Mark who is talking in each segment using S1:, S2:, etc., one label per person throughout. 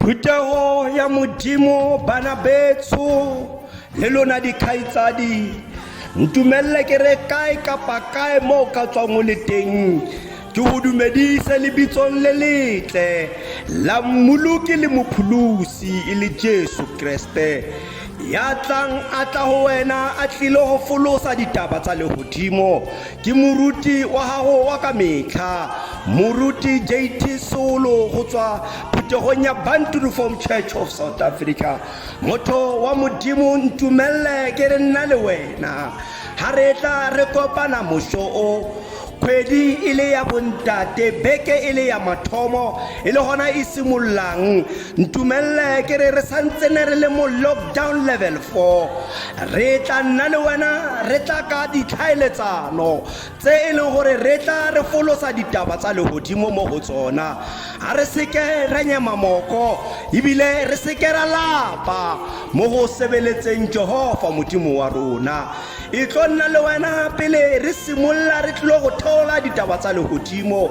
S1: Phuthego ya Modimo bana betsho le lona dikgaitsadi ntumelele ke re kae kapa kae mo o ka tswang o le teng ke go dumedise lebitsong le letle la mmoloki le mopholosi e le jesu kreste ya tlang a tla go wena a tlile go folosa ditaba tsa legodimo ke moruti wa gago wa ka metlha moruti jt solo go tswa phuthegong ya banturuform church of south africa motho wa modimo ntumelele ke re nna le wena ga re tla re kopana moso o kgwedi e le ya bontate beke e le ya mathomo e le gona e simololang ntumelele ke re re santsene re le mo lockdown level 4 re tla nna le wena re tla ka ditlhaeletsano tse e leng gore re tla re folosa ditaba tsa legodimo mo go tsona ga re seke ra nyema moko ebile re seke ra lapa mo go sebeletseng jehova modimo wa rona e tlo nna le wena pele re simolola re tlile go theola ditaba tsa legodimo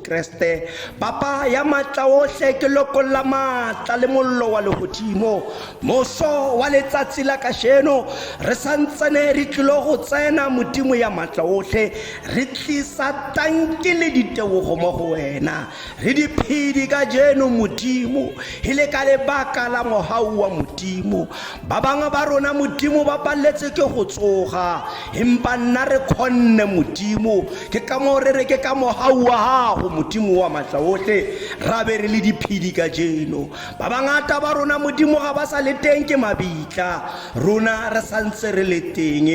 S1: Kreste, Papa ya matla ohle, ke lokolla matla le mollo wa lehodimo. Moso wa letsatsi la kasheno, re santsane re tlilo go tsena Modimo ya matla ohle, re tlisa tanki le ditebogo mo go wena. Re diphedi kajeno Modimo, e le ka lebaka la mohau wa Modimo. Ba bangwe ba rona Modimo ba palletse ke go tsoga, empa nna re kgonne Modimo. Ke ka moo re re ke ka mohau wa gago Modimo wa matla otlhe ra be re le diphedi ka jeno. Ba bangata ba rona Modimo ga ba sa le teng ke mabitla, rona re sa ntse re le teng.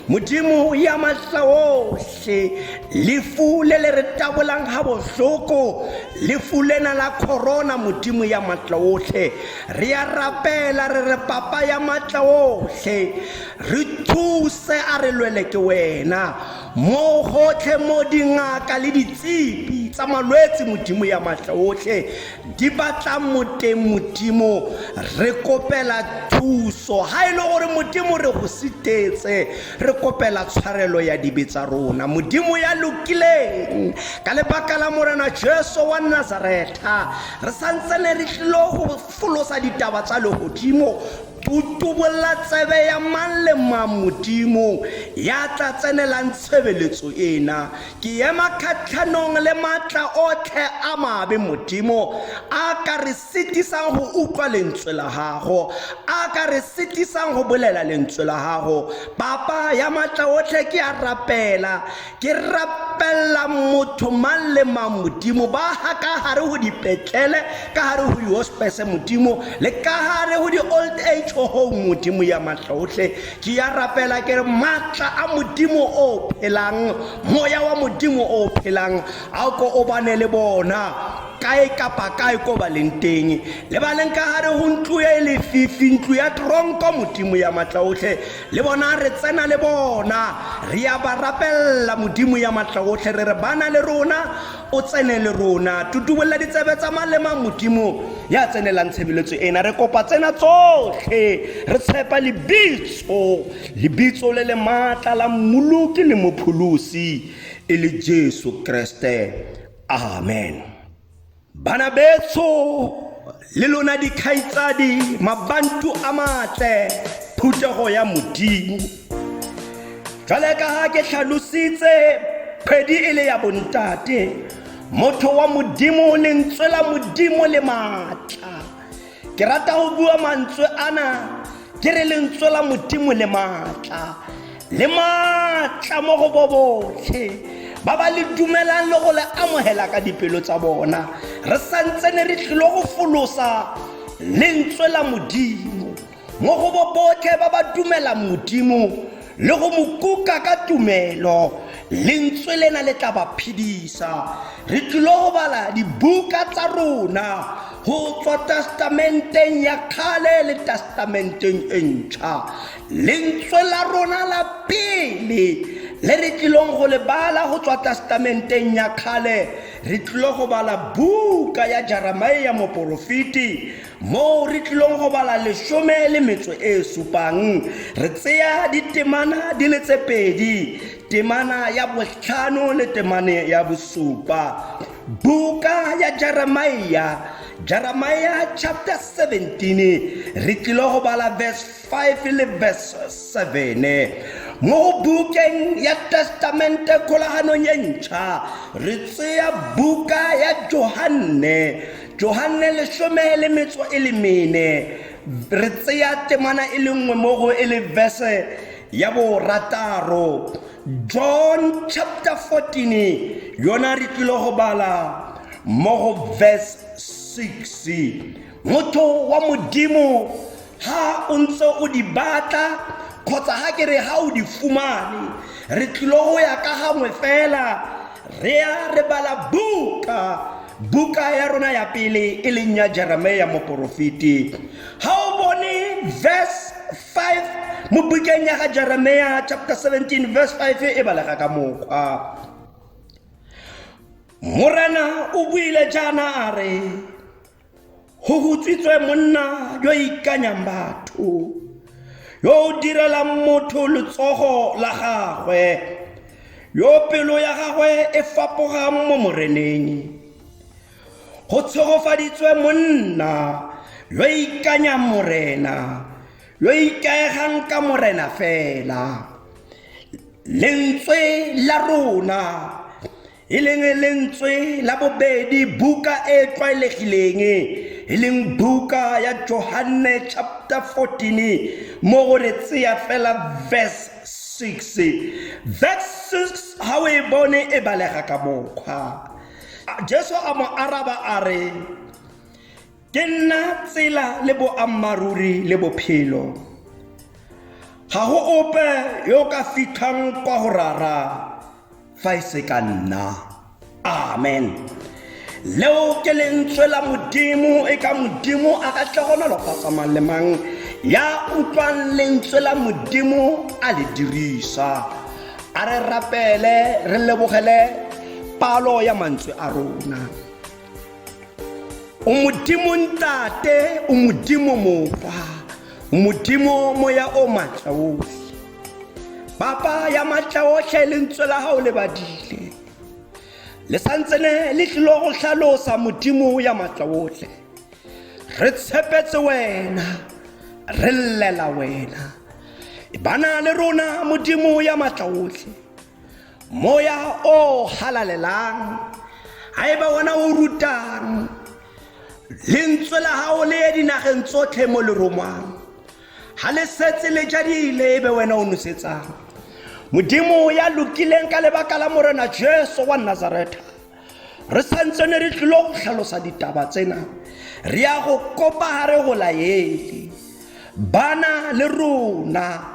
S1: Modimo ya matla otlhe, lefu le le re tabolang ga bohloko, lefu lena la corona Modimo ya matla otlhe, Re a rapela re re papa ya matla otlhe re thuse a re lwele ke wena mo gotlhe mo dingaka le ditsipi tsa malwetse modimo ya matla otlhe di batlang moteng modimo re kopela thuso ga e le gore modimo re go sitetse Re kopela tshwarelo ya dibe tsa rona, Modimo ya lokileng, ka lebaka la Morena Jesu wa Nazaretha. Re sa ntse ne re tlilo go folosa ditaba tsa legodimo, tutubolla tsebe ya mang le mang Modimo ya tla tsenelang tshebeletso ena. Ke ema kgatlhanong le matla otlhe a mabe Modimo, a ka re sitisang go utlwa lentswe la gago a ka re sitisang go bolela lentswe la gago papa ya maatla otlhe ke a rapela ke rapelela motho mang le mang modimo ba ga ka gare go dipetlele ka gare go dihospese modimo le ka gare go di-old age home modimo ya maatla otlhe ke ya rapela ke re maatla a modimo o phelang moya wa modimo o phelang a ko o bane le bona Kae kapa kae koo ba leng teng, lebaleng ka gare go ntlo e lefifi, ntlo ya tronko, Modimo ya Matlaotlhe, le bona re tsena le bona, re ya ba rapelela, Modimo ya Matlaotlhe, re re, Bana le rona, O tsene le rona. Tutubolela ditsebe tsa malema, Modimo ya tsenelang tshebeletso ena. Re kopa tsena tsotlhe, re tshepa lebitso, lebitso le le maatla la Mmoloki le Mopholosi, e le Jesu Keresete. amen bana betso le lona dikgaitsadi mabantu a matle phuthego ya modimo jale ka ga ke tlhalositse kgwedi e le ya bontate motho wa modimo lentswe la modimo le maatla ke rata go bua mantswe ana ke re lentswe la modimo le maatla le maatla mo go bo botlhe ba ba le dumelang le go le amogela ka dipelo tsa bona re santse ne re tlile go folosa lentswe la modimo mo go bo botlhe ba ba dumelang modimo le go mo kuka ka tumelo lentswe lena le tla ba phedisa re tlile go bala dibuka tsa rona go tswa testamenteng ya kgale le testamenteng e ntšha lentswe la rona la pele le re tlilong go le bala go tswa testamenteng ya kgale re tlile go bala buka ya jeremia moporofeti Moo re tlilong go bala lesome le metso e supang, re tseya ditemana di le tse pedi, temana ya botlhano le temane ya bosupa. Buka ya Jeremiah, Jeremiah chapter 17, re tlilo go bala verse 5 le verse 7 mo bukeng ya testamente kgolaganong e ntšha re tseya buka ya johanne johanne lesome le metso e le mene re tseya temana e le nngwe mo go e le verse ya borataro john chapter 14 yona re tlile go bala mo go verse 6 motho wa modimo ha o ntse o di batla kgotsa ha ke re ha o di fumane re tlilo go ya ka gangwe fela re ya re bala buka buka ya rona ya pele e leng ya jeremia moporofeti ga o bone verse 5 mo bukeng ya ga jeremia chapter 17 verse 5 e balega ka mokgwa morena o buile jaana a re Go hutsitswe monna yo ikanyang batho yo o direlang motho letsogo la gagwe yo pelo ya gagwe e fapogang mo moreneng go tshegofaditswe monna yo ikanyang morena yo ikaegang ka morena fela lentswe la rona e leng lentswe la bobedi buka e e tlwaelegileng e leng buka ya johanne chapter 14 mo go re tseya fela verse 6 verse 6 ga o e bone e balega ka mokgwa jesu a mo araba a re Ke nna tsela le boammaaruri le bophelo. Ga go ope yo o ka fitlhang kwa go rara fa e se ka nna. Amen. Leo ke lentswe la Modimo e ka Modimo a ka tle go nolofatsa mang le mang ya utlwang lentswe la Modimo a le dirisa. A re rapele re lebogele palo ya mantswe a rona. o modimo ntate o modimo mopa o modimo moya o matla otlhe papa ya matla otlhe e lentswe la gago le badile le santsene le tlilo go tlhalosa modimo ya matla otlhe re tshepetse wena re llela wena e bana le rona modimo ya matla otlhe Moya o halalelang, haeba wona o rutang, lentswe la hao le ye dinageng tsotlhe mo le romwang. Ha le setse le jadile ebe wena o nosetsang. Modimo ya lokileng ka lebaka la Morena Jesu wa Nazareta. Re santse ne re tlilo go tlhalosa ditaba tsena. Re ya go kopa ha re go laele. Bana le rona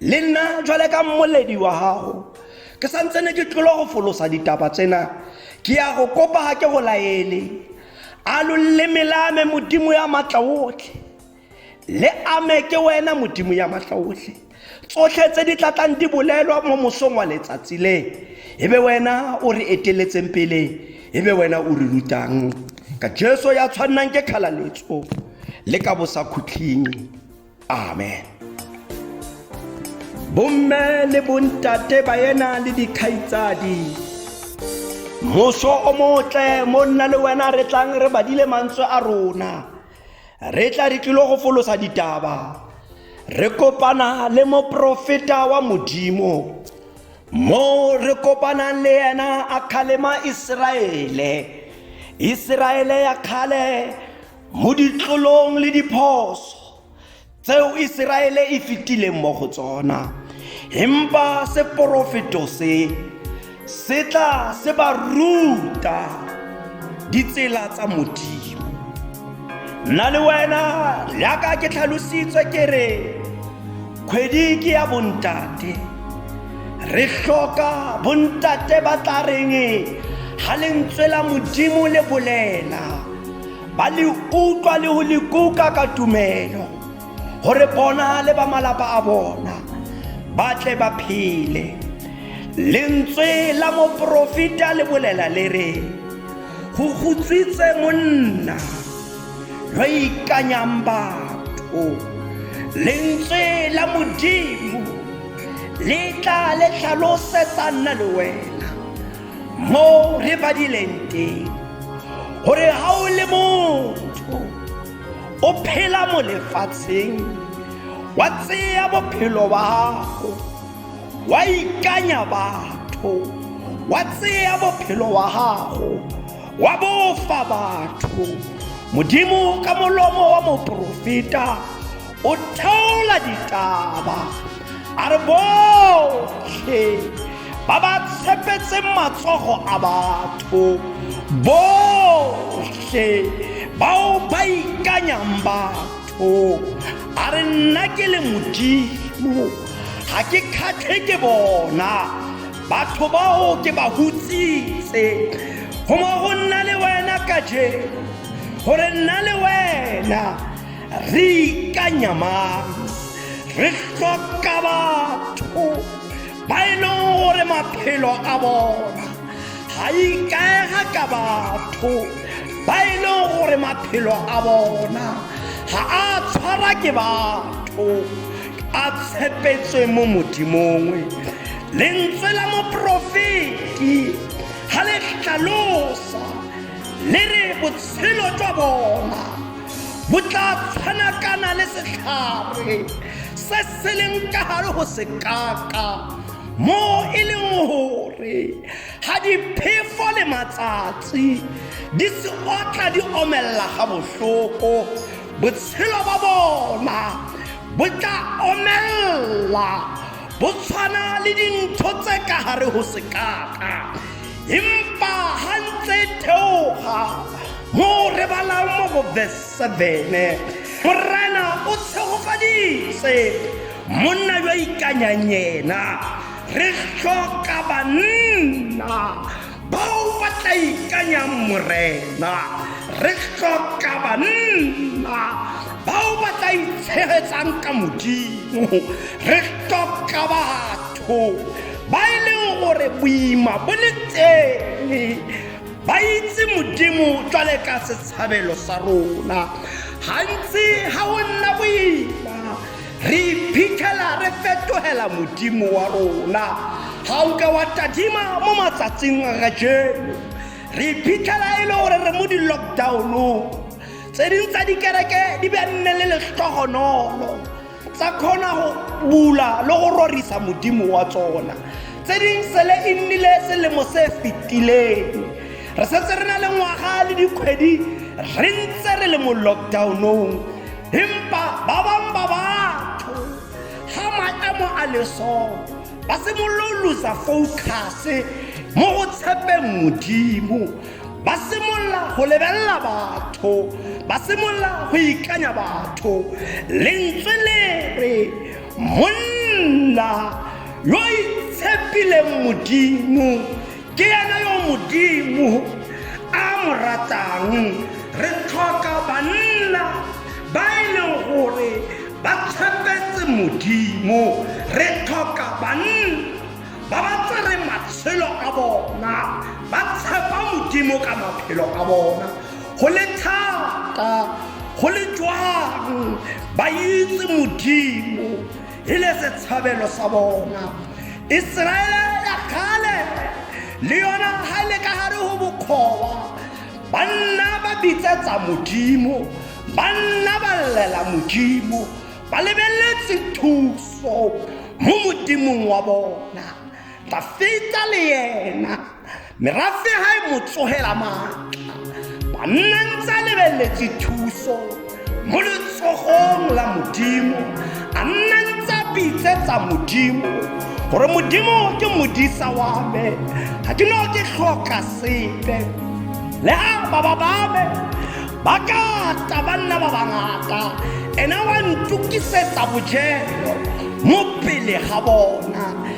S1: le nna jwale ka mmoledi wa gago ke sa ntse ne ke tlolo go folosa ditaba tsena ke ya go kopa ga ke go laele a lo leleme la me modimo ya maatla otlhe le ame ke wena modimo ya maatla otlhe tsotlhe tse di tlatlang di bolelwa mo mosong wa letsatsi le e be wena o re eteletseng pele e be wena o re rutang ka jesu ya tshwannang ke kgalaletso le ka bosakhutlhing amen bomme le bontate ba ena le dikgaitsadi moso o motle mo nna le wena re tlang re badile mantswe a rona re tla re tlilo go folosa ditaba re kopana le moprofeta wa modimo mo re kopanang le yena a kgalema iseraele iseraele ya kgale mo ditlolong le diphoso tseo iseraele e fetileng mo go tsona empa seporofeto se se tla se ba ruta ditsela tsa modimo nna le wena jaaka ke tlhalositswe ke re kgwedi ke ya bontate re hloka bontate ba tla reng ga lentswe la modimo le bolela ba le utlwa le go le kuka ka tumelo gore bona le ba malapa a bona ba tle ba phele lentswe la moporofeta le bolela le re go gotsitse monna yo ikanyang batho lentswe la modimo le tla le tlhalosetsa nna le wena moo re badileng teng gore ga o le motho o phela mo lefatsheng wa tseya bophelo ba gago wa ikanya batho wa tseya bophelo wa gago wa bofa batho modimo ka molomo wa moporofeta o theola ditaba a re botlhe ba ba tshepetseng matsogo a batho botlhe bao ba ikanyang batho a re nna ke le modimo ga ke kgatlhe ke bona batho bao ke ba hutsitse goma go nna le wena ka je gore nna le wena re ikanya mang re hloka batho ba e leng gore maphelo a bona ga ikaega ka batho ba e leng gore maphelo a bona ga a tshwara ke batho a tshepetswe mo modimong lentswe la moprofeti ga le tlhalosa le re botshelo jwa bona bo tla tshwanakana le setlhare se se leng ka gare go sekaka mo e leng gore ga diphefo le matsatsi di se otla di omelela ga botlhoko botshelo ba bona bo tla omelela bo tshwana le dintho tse ka gare go sekaka empa ga ntse theoga mo re balang mo go verse 7 morena o tshegofaditse monna yo ikanyang yena re tlhoka banna bao ba tla ikanyang morena re tlhoka banna bao ba tla itshegetsang ka modimo re tlhoka batho ba e leng gore boima bo le tene ba itse modimo jwale ka setshabelo sa rona gantsi ga o nna boima re iphitlhela re fetogela modimo wa rona ga o ka wa tadima mo matsatsing a kajeno re iphitlhela e le gore re mo di-lockdownong tse ding tsa dikereke di be nne le letlhogonolo tsa kgona go bula le go rorisa modimo wa tsona tse ding sele e nnile selemo se fetileng re setse re na le ngwaga le dikgwedi re ntse re le mo lockdownong empa ba bang ba batho ga maemo a lesoo ba simololosa focuse mo go tshepeng modimo ba simolola go lebelela batho ba simolola go ikanya batho lentswe le re monna yo itshepileng modimo ke ena yo modimo a mo ratang re tlhoka banna ba e leng gore ba tshepetse modimo re tlhoka banna ba ba tsere matshelo a bona ba tshepa modimo ka maphelo a bona go le thata go le jwang ba itse modimo e le setshabelo sa bona iseraele ya kgale le yona ga e le ka gare go bokgowa banna ba bitsetsa modimo banna ba llela modimo ba lebeletse thuso mo modimong wa bona dafita le yena merafe ha e mo tsogela maatla banna ntse a lebeletse thuso mo letsogong la modimo a nna ntse a pitsetsa modimo gore modimo ke modisa wa me ga ke no ke tlhoka sepe le a baba ba me ba ka ta ba nna ba bangata ena wa ntokisetsa bojelo mo pele ga bona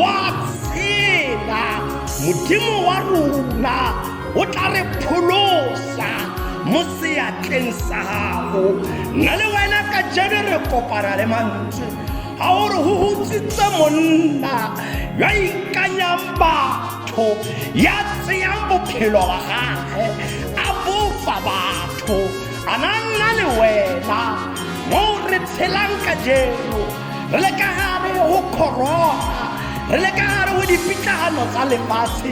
S1: wa tsela modimo wa rona o tla re pholosa mo seatleng sa gago nna le wena ka jeno re kopana le mantswe ga o re go gotsitse monna yo ikanyang batho ya tseyang bophelo wa gage a bofa batho a na nna le wena mo re tshelang ka jeno re le ka gare go corona re le ka gare go dipitlagano tsa lefatshe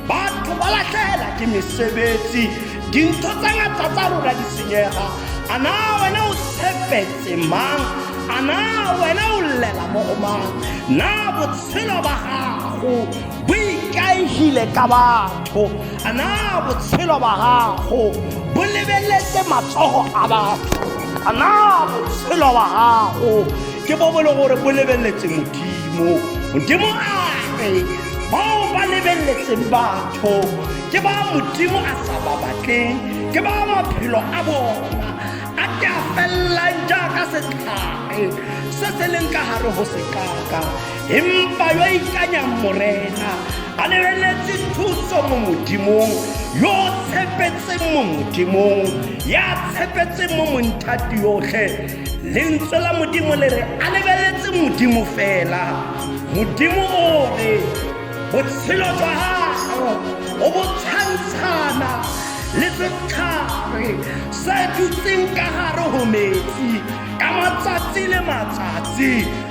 S1: batho ba latlhela ke mesebetsi dintho tsa ngata tsa rona di senyega a na wena o tshepetse mang a na wena o llela mo go mang na botshelo ba gago bo ikaegile ka batho a na botshelo ba gago bo lebeletse matsogo a batho a na botshelo ba gago ke bo bo le gore bo lebeletse modimo modimo ae bao ba lebeletseng batho ke ba modimo a sa ba batleng ke ba maphelo a bona a ke a felelang jaaka setlhare se se leng ka gare go sekaka empa yo a ikanyang morena a lebeletse thuso mo modimong yo o tshepetseng mo modimong ya tshepetseng mo monthati yotlhe lentswe la modimo le re a lebeletse modimo fela modimo o re botshelo jwa gago o bo tshwantshana le setlhare se dutseng ka gare go metsi ka matsatsi le matsatsi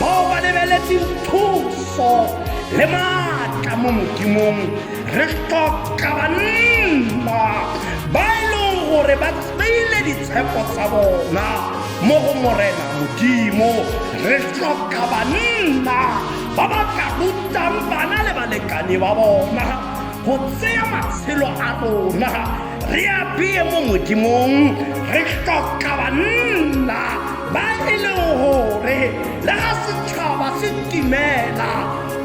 S1: bao ba lebeletseng thuso le maatla mo modimong re tlhoka banna ba e leng gore ba tseile ditshepo tsa bona mo go morena modimo re tlhoka banna ba ba tla rutang bana le balekane ba bona go tseya matshelo a rona re apeye mo modimong re tlhoka banna ba e leng gore le ga setšhaba se timela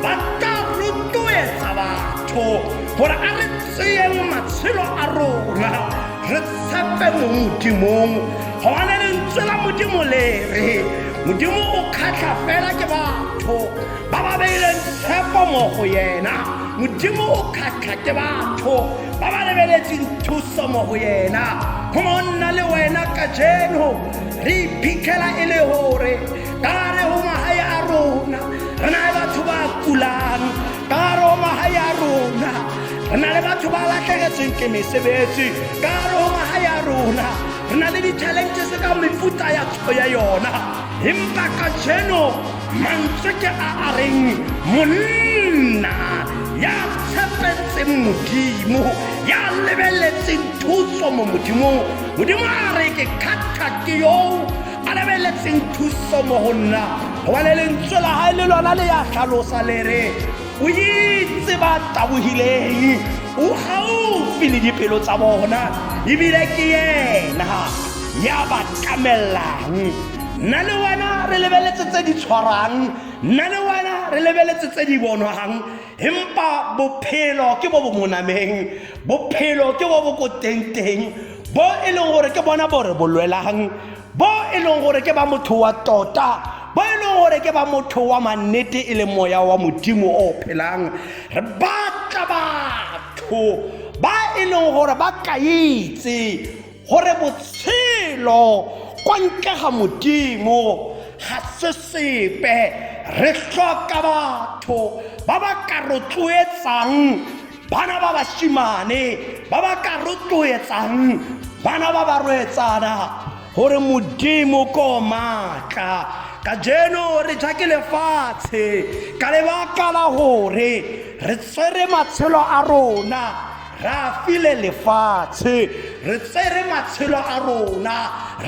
S1: ba tla rotloetsa batho gore a re tseyeng matshelo a rona re tshepe mo modimong gobane lentswe la modimo le re modimo o kgatlha fela ke batho ba ba beileng tshepo mo go yena modimo o kgatlha ke batho ba ba lebeletseng thuso mo go yena go mo nna le wena ka jeno re iphitlhela e le gore ka re go magae a rona re na le batho ba kulang ka re go magae a rona re na le batho ba latlhegetsweng ke mesebetsi ka re go magae a rona re na le di-challenges ka mefuta ya ya yona empa ka jeno mantswe ke a a reng monna ya tshepetseng modimo ya lebeletseng thuso mo modimong modimo a re ke kgatha ke yo a lebeletseng thuso mo go nna gobane lentswe la gae le lona le ya tlhalosa le re o itse ba tabogileng o gaufi le dipelo tsa bona ebile ke yena ya ba tlamelang nna le wena re lebeletse tse di tshwarang nna le wena re lebeletse tse di bonwang empa bophelo ke bo bo monameng bophelo ke bo bo ko tengteng bo e leng gore ke bona bore bo lwelang bo e leng gore ke ba motho wa tota bo e leng gore ke ba motho wa mannete e leng moya wa modimo o phelang re batla batho ba e leng gore ba kaetse gore botshelo kwa ntle ga modimo ga se sepe re tlhoka batho ba ba ka rotloetsang bana ba bashimane ba ba ka rotloetsang bana ba ba roetsana gore modimo ko maatla ka jeno re ja ke lefatshe ka lebaka la gore re tsere matshelo a rona re a file lefatshe re tsere matshelo a rona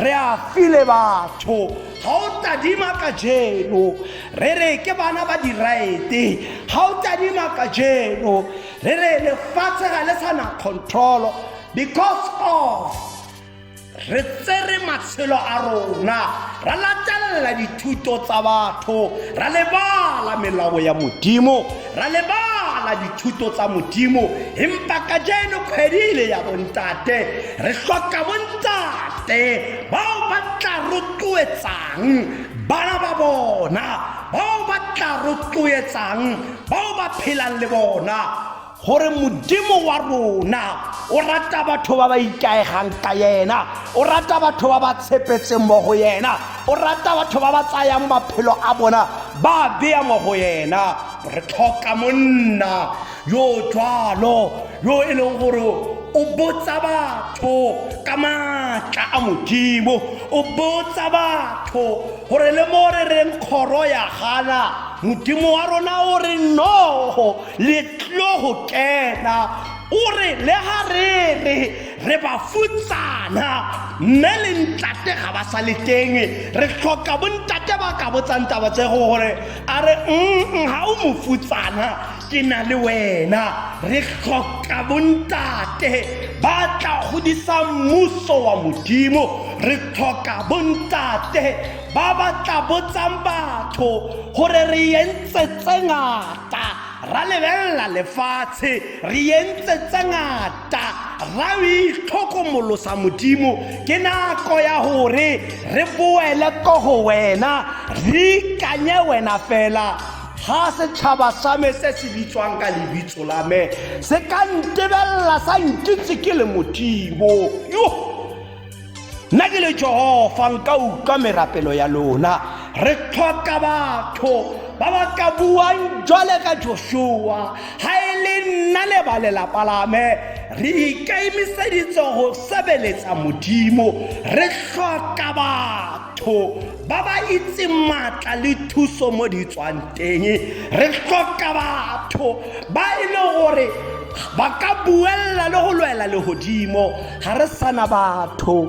S1: re a file batho ga o tadima ka jeno re re ke bana ba diraete ga o tadima ka jeno re re lefatshe ga le sa na control because of re tsere matshelo a rona ra latelela dithuto tsa batho ra lebala melao ya modimo ra lebala dithuto tsa modimo empa ka jeno kgwedile ya bontate re hloka bontate bao ba tla rotloetsang bana ba bona bao ba tla rotloetsang bao ba phelang le bona gore modimo wa rona o rata batho ba ba ikaegang ka yena o rata batho ba ba tshepetseng mo go yena o rata batho ba ba tsayang maphelo a bona ba beya mo go yena re tlhoka monna yo jalo yo e leng gore o botsa batho ka maatla a modimo o botsa batho gore le mo re reng kgoro ya gana modimo wa rona o re nogo letlogo kena o re le ga re re re ba futsana mme le ntate ga ba sa le teng re tlhoka bontate ba ka botsang taba tse go gore a re mm ga o mo futsana ke na le wena re tlhoka bontate ba tla godisa mmuso wa modimo re tlhoka bontate ba ba tla botsang batho gore re entsetse ngata ngata ra lebelela lefatshe re entse tse ngata ra o itlhokomolosa modimo ke nako ya gore re boele ko go wena re ikanye wena fela ga setšhaba sa me se se bitswang ka lebitso la me se ka ntebelela sa nkitse ke le modimo yo nna ke le jehofa nka utlwa merapelo ya lona re tlhoka batho ba ba ka buang jwale ka joshua ga e le nna le ba lelapa lame re ikaemiseditse go sebeletsa modimo re tlhoka batho ba ba itse maatla le thuso mo di tswang teng re tlhoka batho ba e le gore ba ka buelela le go lwela legodimo ga re sana batho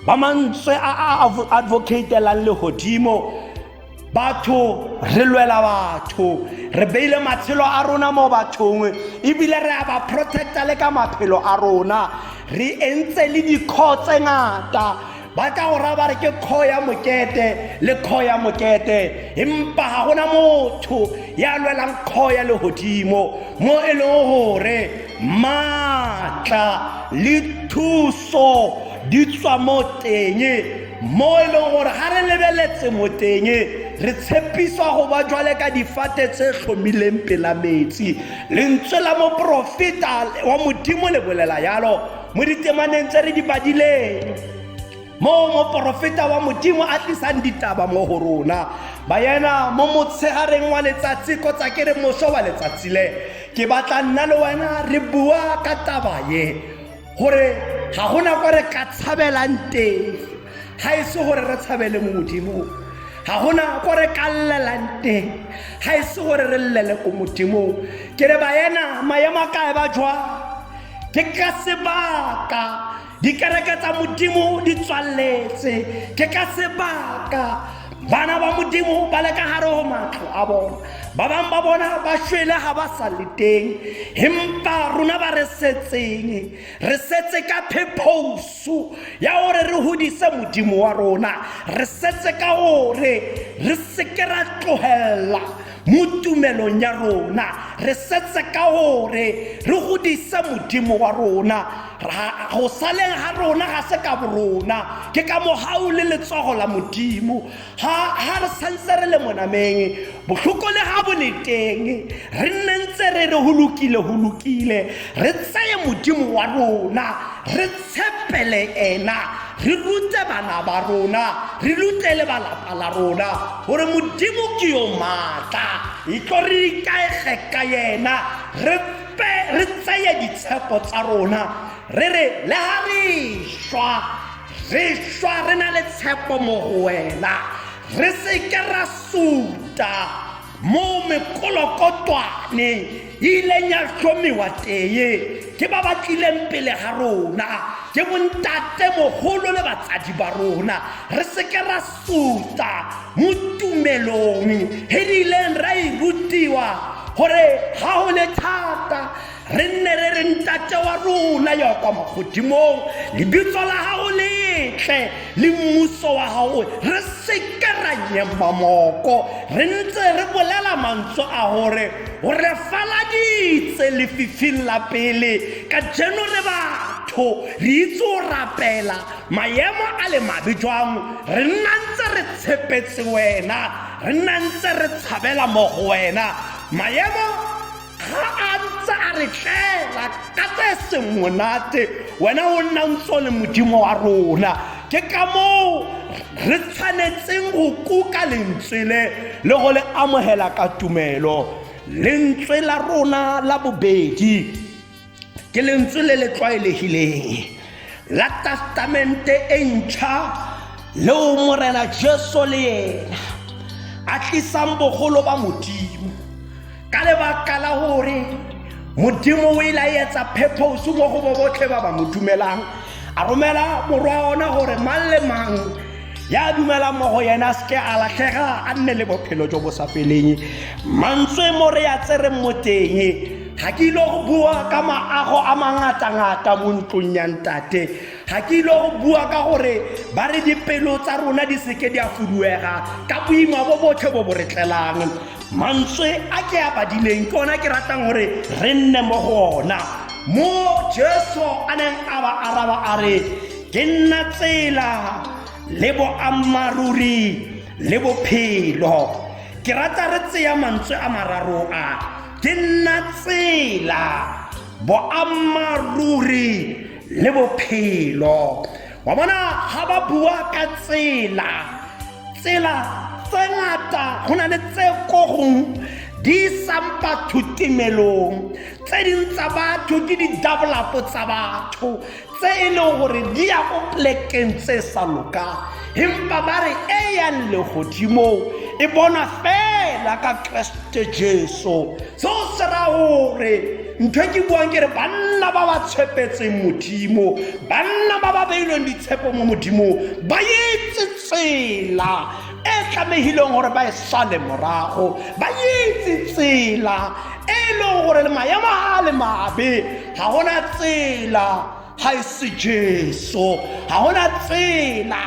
S1: ba mantswe a a advocatelang legodimo batho re lwela batho re beile matshelo a rona mo bathong ebile re a ba protecta le ka maphelo a rona re entse le dikgoo tse ngata ba tla go raya ba re ke kgo ya mokete le kgo ya mokete empa ga gona motho ya lwelang kgo ya legodimo mo e leng gore maatla le thuso di tswa mo teng mo e leng gore ga re lebeletse mo teng re tshepiswa go ba jwale ka difate tse tlhomileng pela metsi lentswe la moporofeta wa modimo le bolela yalo mo ditemaneng tse re di badileng moo moporofeta wa modimo a tlisang ditaba mo go rona bayena mo motshegareng wa letsatsi kgotsa ke re moso wa letsatsi le ke batla nna le wena re bua ka taba ye gore ga gona kwa re ka tshabelang teng ga e se gore re tshabele mo modimong ga gona ko re ka llelang teng ga e se gore re llele ko modimong ke re bayena maemo a kae ba jwang ke ka sebaka dikereke tsa modimo di tswaletse ke ka sebaka bana ba modimo ba le ka gare go matlo a bona ba bangwe ba bona ba shwele ga ba sa le teng empa rona ba re setseng re setse ka phephoso ya gore re godise modimo wa rona re setse ka gore re seke ra tlogelela Mo tumelong ya rona re setse ka gore re godise modimo wa rona go saleng ga rona ga se ka borona ke ka mogau le letsogo la modimo ga re santse re le monameng botlhoko le ga boleteng re nne ntse re re go lokile go lokile re tseye modimo wa rona re tshepele ena re rute bana ba rona re rute le balapa la rona gore modimo ke yo maatla e tlo re ikaege ka yena re tseye ditshepo tsa rona re re le ga re šwa re šwa re na le tshepo mo go wena re seke ra suta mo mekolokotwaneng e ileng ya tlhomiwa teye ke ba ba tlileng pele ga rona ke bontate mogolo le batsadi ba rona re seke ra suta mo tumelong e re ileng ra e rutiwa gore ga o le thata re nne re re ntate wa rona ya kwa magodimong lebitso la gago letle le mmuso wa gago re seke ra nyema moko re ntse re bolela mantswe a gore o re faladitse lefifing la pele ka jeno re batho re itse o rapela maemo a le mabe jwang re nna ntse re tshepetse wena re nna ntse re tshabela mo go wena maemo ga a ntse a re tlela ka tse seng monate wena o nna ntse o le modimo wa rona ke ka moo re tshwanetseng go kuka lentswe le le go le amogela ka tumelo lentswe la rona la bobedi ke lentswe le le tlwaelegileng la testamente e ntšha leo morena jesu le ena a tlisang bogolo ba modimo ka lebaka la gore modimo o ilaetsa phephoso mo go bo botlhe ba ba mo dumelang a romela morwa ona gore mang le mang ya dumelang mo go yena se ke a latlhega a nne le bophelo jo bo sa feleng mantswe mo re ya tsere mo teng ga ke ile go bua ka maago a mangatangata mo ntlong ya ntate ga ke ile go bua ka gore ba re dipelo tsa rona di seke di a fuduega ka boima bo botlhe bo bo re tlelang mantswe a ke a badileng ke ona ke ratang gore re nne mo go ona mo jesu a neng a ba araba a re Ke nna tsela le boammaaruri le bophelo. Ke rata re tseya mantswe a mararo a. Ke nna tsela, boammaaruri le bophelo. Wa bona ga ba bua ka tsela, tsela tse ngata go na le tse ko gong di isang batho timelong tse ding tsa batho ke di-double up tsa batho tse e leng gore di ya ko plekeng tse sa lokang empa ba re e yang legodimong e bona fela ka keresete jesu seo se ra gore ntho e ke buang ke re banna ba ba tshepetseng modimo banna ba ba beilweng ditshepo mo modimong ba etse tsela e tlamehileng gore ba e sale morago ba etse tsela e e leng gore le maemo a le mabe ga gona tsela ga e se jesu ga gona tsela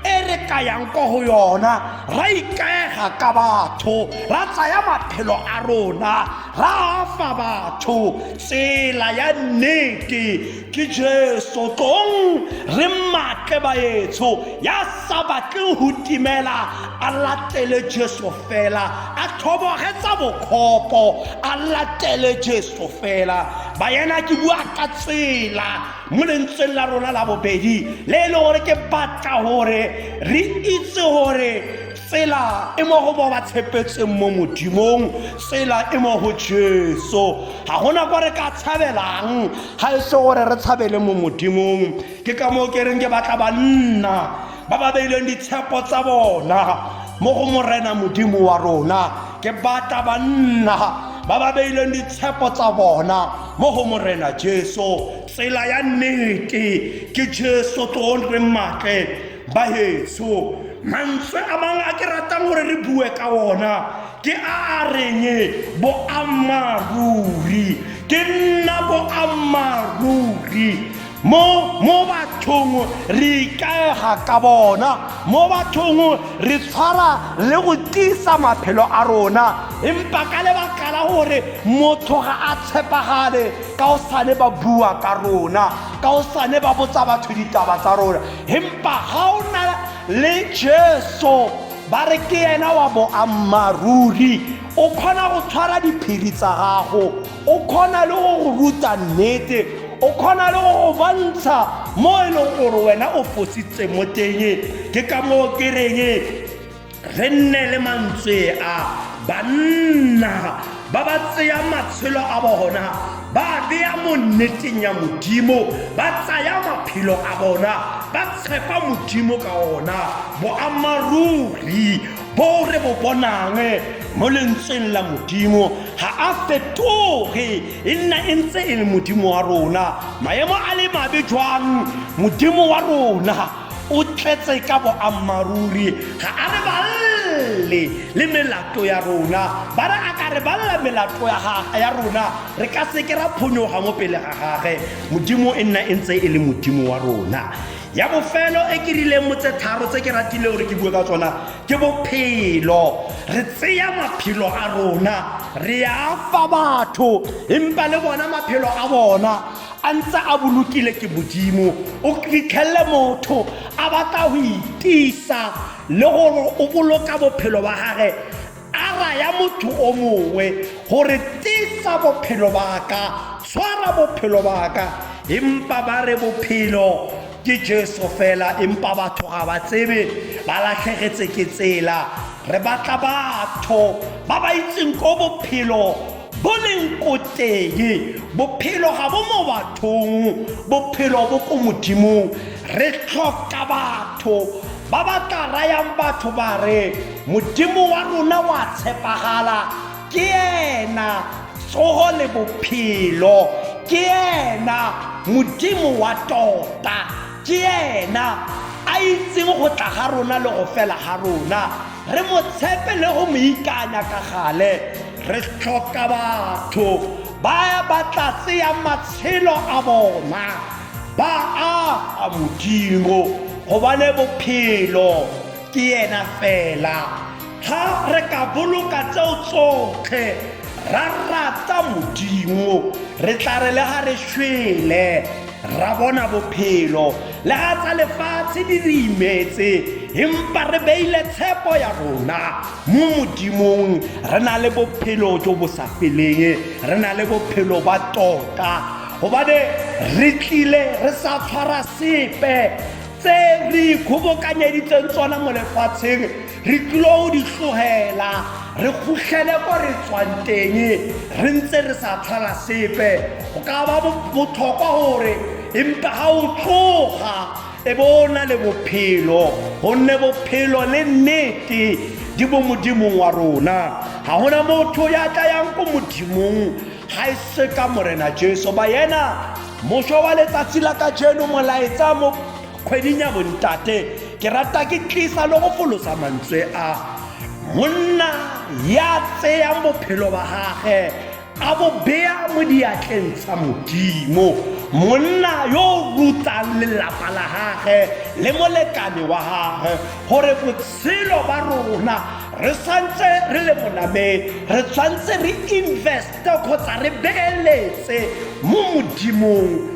S1: e re kayang ko go yona ra ikaega ka batho ra tsaya maphelo a rona ra fa batho tsela ya nnete ke jesu tlong re matle baetsho ya sa batle go timela a latele jesu fela a thobogetsa bokgopo a latele jesu o fela bayana ke bua ka tsela mo lentsweng la rona la bobedi le e le gore ke batla gore re itse gore tsela e mo go ba ba tshepetseng mo modimong tsela e mo go jesu ga gona kwa re ka tshabelang ga e se gore re tshabele mo modimong ke ka moo ke reng ke batla banna ba ba beileng ditshepo tsa bona mo go morena modimo wa rona ke batla banna ba ba beileng ditshepo tsa bona mo go morena jesu tsela ya nnete ke jesu tloontle matle ba heso mantswe a mangwe a ke ratang gore re bue ka ona ke a a reng boammaaruri ke nna boammaaruri mo
S2: mo bathong re ikaega ka bona mo bathong re tshwara le go tiisa maphelo a rona empa ka lebaka la gore motho ga a tshepagale ka o sane ba bua ka rona ka o sane ba botsa batho ditaba tsa rona empa ga o na le jesu ba re ke ena wa boammaaruri o kgona go tshwara diphiri tsa gago o kgona le go go ruta nnete o kgona le go go bontsha mo e leng gore wena o fositse mo teng ke ka moo ke reng re nne le mantswe a banna ba ba tseya matshelo a bona ba beya mo nneteng ya modimo ba tsaya maphelo a bona ba tshepa modimo ka ona boammaaruri Bo re bo bonang mo lentsweng la modimo ga a fetoge e nna e ntse e le modimo wa rona maemo a le mabe jwang modimo wa rona o tletse ka boammaaruri ga a re balele le melato ya rona ba re a ka re balela melato ya rona re ka seke ra phonyoga mo pele ga gage modimo e nna e ntse e le modimo wa rona ya bofelo e ke rileng mo tse tharo tse ke ratileng gore ke bue ka tsona ke bophelo re tseya maphelo a rona re a fa batho empa le bona maphelo a bona a ntse a bolokile ke modimo o fitlhelele motho a batla go itisa le gore o boloka bophelo ba gage A raya motho o mongwe gore tisa bophelo baka tshwara bophelo baka empa ba re bophelo ke jesu fela empa batho ga ba tsebe ba latlhegetse ke tsela re batla batho ba ba itseng ko bophelo bo leng ko teng bophelo ga bo mo bathong bophelo bo ko modimong re tlhoka batho ba ba tla rayang batho ba re modimo wa rona wa tshepagala ke ena tsogo le bophelo ke ena modimo wa tota ke ena a itseng go tla ga rona le go fela ga rona Re mo tshepe le go mo ikanya ka gale. Re tlhoka batho ba ba tla tseyang matshelo a bona ba a a Modimo gobane bophelo ke ena fela. Ga re ka boloka tseo tsotlhe ra rata Modimo re tla re le ga re shwele. ra bona bophelo le ga tsa lefatshe di re imetse empa re beile tshepo ya rona mo modimong re na le bophelo jo bo sa feleng re na le bophelo ba tota gobane re tlile re sa tshwara sepe tse re ikgobokanyeditseng tsona mo lefatsheng re tlilo di tlogela re kgotlhele ko re tswang teng re ntse re sa tlhola sepe go ka ba botlhokwa gore empa ga o tloga e bo o na le bophelo gonne bophelo le nnete di bo modimong wa rona ga gona motho ya tla yang ko modimong ga e se ka morena jesu ba yena mošwa wa letsatsi la ka jeno molaetsa mo kgweding ya bontate ke rata ke tlisa le go folosa mantswe a monna ya tseyang bophelo ba gage a bo beya mo diatleng tsa modimo monna yo o rutsang lelapa la gage le molekane wa gage gore botshelo ba rona re santse re le monameng re tshwanetse re investe kgotsa re beeletse mo modimong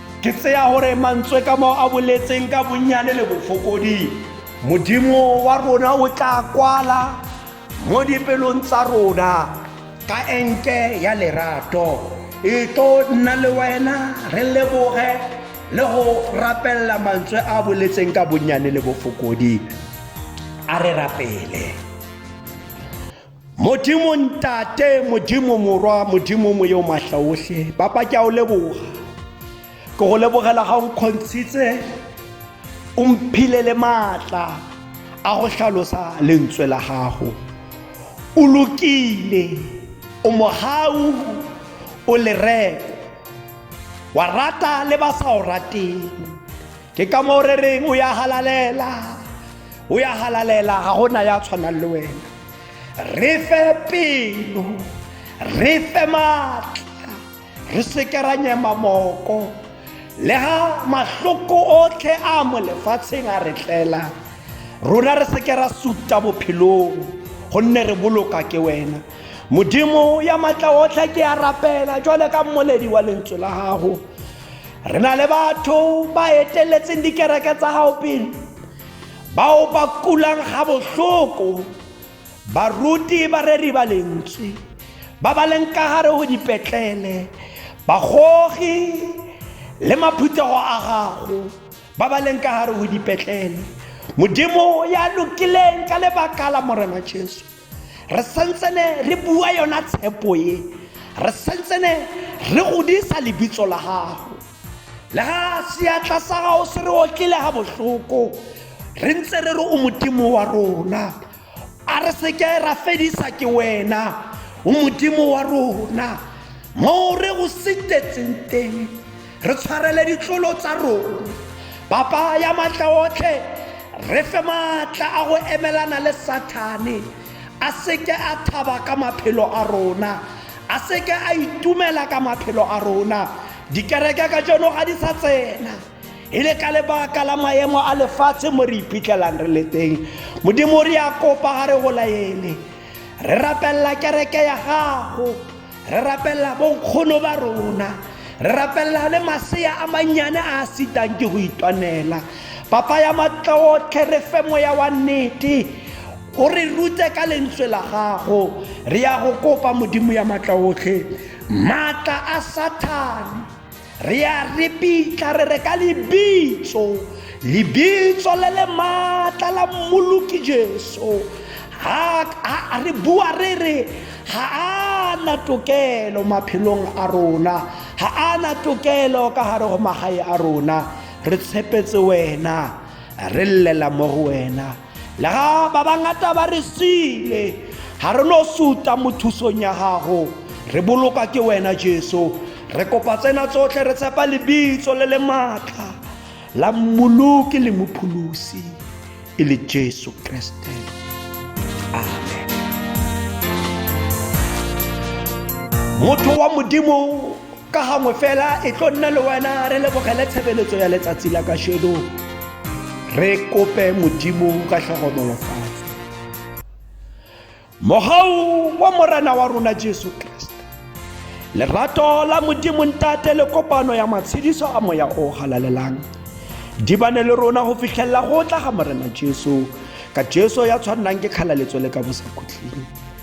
S2: ke tseya gore mantswe ka mo a boletseng ka bonnyane le bofokodi modimo wa rona o tla kwala mo dipelong tsa rona ka enke ya lerato e tlo nna le wena re leboge le go rapelela mantswe a boletseng ka bonnyane le bofokodi a re rapele Modimo Ntate, Modimo Morwa, Modimo Moyo Matla Ohle, Papa ke a o leboga. Ke go lebogela ga o nkgontshitse o mphile le maatla a
S1: go tlhalosa lentswe la gago. O lokile, o mogau, o lereko. Wa rata le ba sa o rateng. Ke ka moo re reng o ya halalela. O ya halalela ga gona ya tshwanang le wena. re fe pelo re fe maatla re seke ra nyema moko le ga mahloko otlhe a mo lefatsheng a re tlela rona re seke ra suta bophelong gonne re boloka ke wena modimo ya maatla otlhe ke ya rapela jwale ka mmoledi wa lentswe la gago re na le batho ba eteletseng dikereke tsa gago pele bao ba kulang ga botlhoko baruti bareri ba lentswe ba ba leng ka gare go dipetlele bagogi le maphuthego a gago ba ba leng ka gare go dipetlele modimo ya lokileng ka lebaka la morena jesu re santsene re bua yona tshepo e re santsene re godisa lebitso la gago le ga seatla sa gago se re okile ga botlhoko re ntse re re o modimo wa rona a re seke ra fedisa ke wena o modimo wa rona moo re go setetseng teng re tshwarele ditlolo tsa rona papa ya maatla otlhe re fe maatla a go emelana le sathane a seke a thaba ka maphelo a rona a seke a itumela ka maphelo a rona dikereke ka jono ga di sa tsena e le ka lebaka la maemo a lefatshe mo re iphitlhelang re le teng modimo re ya kopa ga re go laele re rapelela kereke ya gago re rapelela bonkgono ba rona re rapelela le masea a mannyane a a sitang ke go itwanela papa ya matlaotlhe re fe moya wa nnete o re rute ka lentswe la gago re ya go kopa modimo ya matlaotlhe maatla a sathane Re a ripitla re re ka lebitso, lebitso le le maatla la mmoloki Jesu. Ha, ha re bua re re ha a na tokelo maphelong a rona, ha a na tokelo ka gare go magae a rona. Re tshepetse wena, re llela mo go wena. Lega ba bangata ba re siile, ga re no suta mo thusong ya gago. Re boloka ke wena Jesu. Re kopa tsena tsotlhe re tshepa lebitso le le maatla la mmoloki le mopholosi e le Jesu Kriste. Amen. Motho wa Modimo ka gangwe fela e tlo nna le wena re lebogele tshebeletso ya letsatsi la kasheno re kope modimo ka tlhokomolofatso mogau wa morena wa rona jesu kriste lerato la modimo ntate le kopano ya matshediso a moya o galalelang di bane le rona go fitlhelela go tla ga morena jesu ka jesu ya tshwannang ke kgalaletso le ka bosakhutleng